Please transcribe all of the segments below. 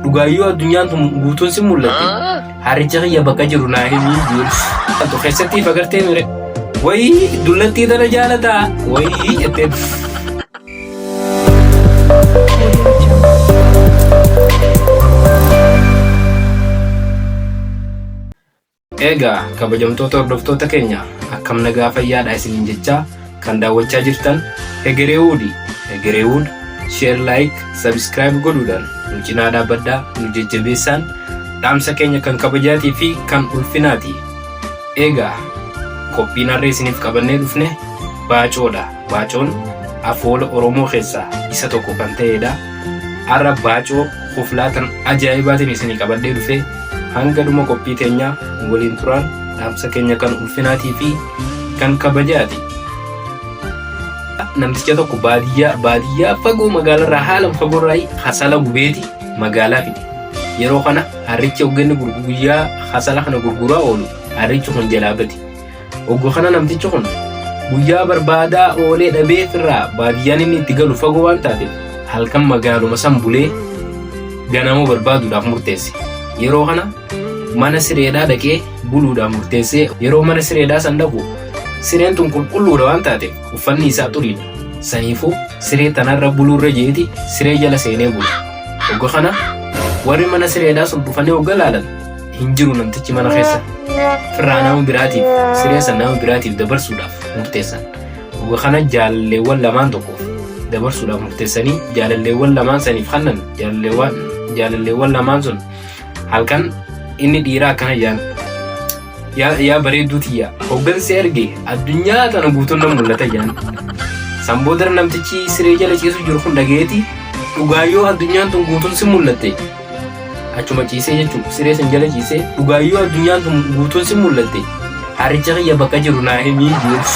Dhugaayyuu addunyaan tun guutuun si mul'atte. Harricha kiyya bakka jiru naa himii jiru. Altu keessatti ifa gartee mire. Wayii dullattii tana jaalataa. Wayii jettee. Eegaa kabajamtoota hordoftoota keenya akkam nagaa fayyaadha isiniin jechaa kan daawwachaa jirtan Hegereewoodi. Hegereewood share like subscribe godhuudhaan nu cinaa dhaabbadhaa nu jajjabeessaan dhaamsa keenya kan kabajaatii fi kan ulfinaati. Eegaa qophiin harree isiniif qabannee dhufne baacoodha. Baacoon afoola Oromoo keessaa isa tokko kan ta'edha. Har'a baacoo koflaa tan ajaa'ibaatiin isinii qabadhee dhufee hanga dhuma qophii teenyaa waliin turaan dhaamsa keenya kan ulfinaatii fi kan kabajaati. Namticha tokko baadiyyaa baadiyyaa fagoo magaalarraa haala fagoorraa hasala gubeeti magaalaa fide. Yeroo kana harrichi hogganni guyyaa hasala kana gurguraa oolu harrichi kun jalaa bade. Oggu kana namtichi kun guyyaa barbaadaa oolee dhabee firraa baadiyyaan inni itti galu fagoo waan taateef halkan magaaluma san bulee ganama barbaaduudhaaf murteesse. Yeroo kana mana sireedhaa dhaqee buluudhaaf murteessee yeroo mana sireedhaa san dhaqu sireen tun qulqulluudha waan taateef uffanni isaa xuriidha. Saniifuu siree tanarra buluurra jeeti siree jala seenee bulu. Ogga kana warri mana sireedhaa sun dhufanii ogga laalan hin jiru namtichi mana keessa firraa nama biraatiif sireessa nama biraatiif dabarsuudhaaf murteessan dhuga kana jaalalleewwan lamaan tokkoof dabarsuudhaaf murteessanii jaalalleewwan lamaan saniif kannan jaalalleewwan jaalalleewwan lamaan sun halkan inni dhiiraa akkana jaan yaa yaa bareedduu tiyya hoggansi erge addunyaa tana guutuun na mul'ata jaan san booda namtichi siree jala ciisu jiru kun dhageeti dhugaa yoo addunyaan tun guutuun si mul'atte Achuma ciisee jechuun siree san jala ciisee dhugaayyuu addunyaan tun guutuun sin mul'atte haaricha kiyya bakka jiru naa himii jeetis.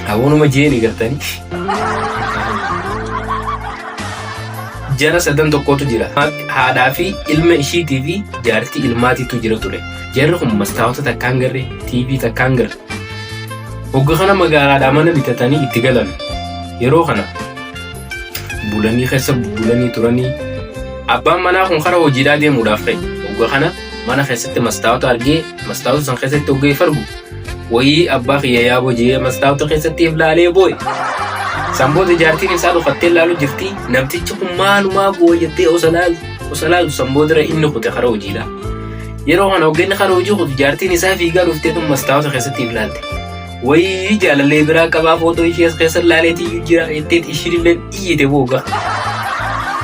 Hawaanuma jeeni gartanii. Jara sadan tokkotu jira. Haadhaa fi ilma ishiitii fi jaartii ilmaatiitu jira ture. Jarri kun mastaawota takkaan garre, TV takkaan garre. Hogga kana magaalaadhaa mana bitatanii itti galan. Yeroo kana bulanii keessa bulanii turanii abbaan manaa kun karaa hojiidhaa deemuudhaaf ka'e ogga kana mana keessatti mastaawota argee mastaawota san keessatti ogga fargu wayii abbaa kiyya yaa bojee mastaawota keessatti if laalee boo'e san booda jaartiin isaa dhufattee laalu jirti namtichi kun maalumaa boo'e jettee osa laalu osa laalu san boodara inni kute karaa hojiidhaa yeroo kana oggenni karaa hojii kutu jaartiin isaa fiigaa dhuftee tun mastaawota keessatti if laalte Wayii jaalallee biraa qabaa footoo ishee as keessa laaleetii iyyuu jira jetteet ishiin illee iyyite booga.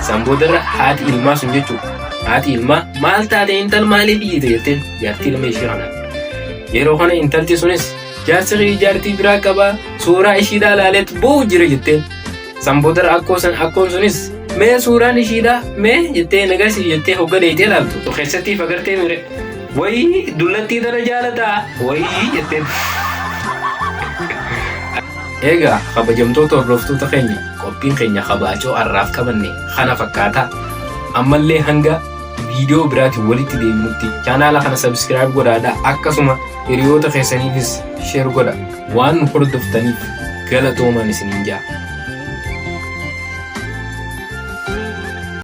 San boodarra haati ilmaa sun jechuudha. Haati ilmaa maal taate intal maaliif iyyite jetteen jaartii ilma ishee kana. Yeroo kana intalti sunis jaarsi kee jaartii biraa qabaa suuraa ishiidhaa laaleet boo'u jira jetteen. San boodarra akkoo san akkoon sunis mee suuraan ishiidhaa mee jettee nagarsiif jettee hogga deeytee laaltu. Keessatti fagartee mire. Wayii dullattii tana jaalataa wayii jetteen. Egaa kabajamtoota hordoftoota keenya qophiin keenya kabaacoo har'aaf qabanne kana fakkaata. Ammallee hanga viidiyoo biraatiin walitti deebinutti chaanaala kana sabiskiraayib godhaadha akkasuma hiriyoota keessaniifis sheer godha waan nu hordoftaniif galatoomaa isiniin jaa.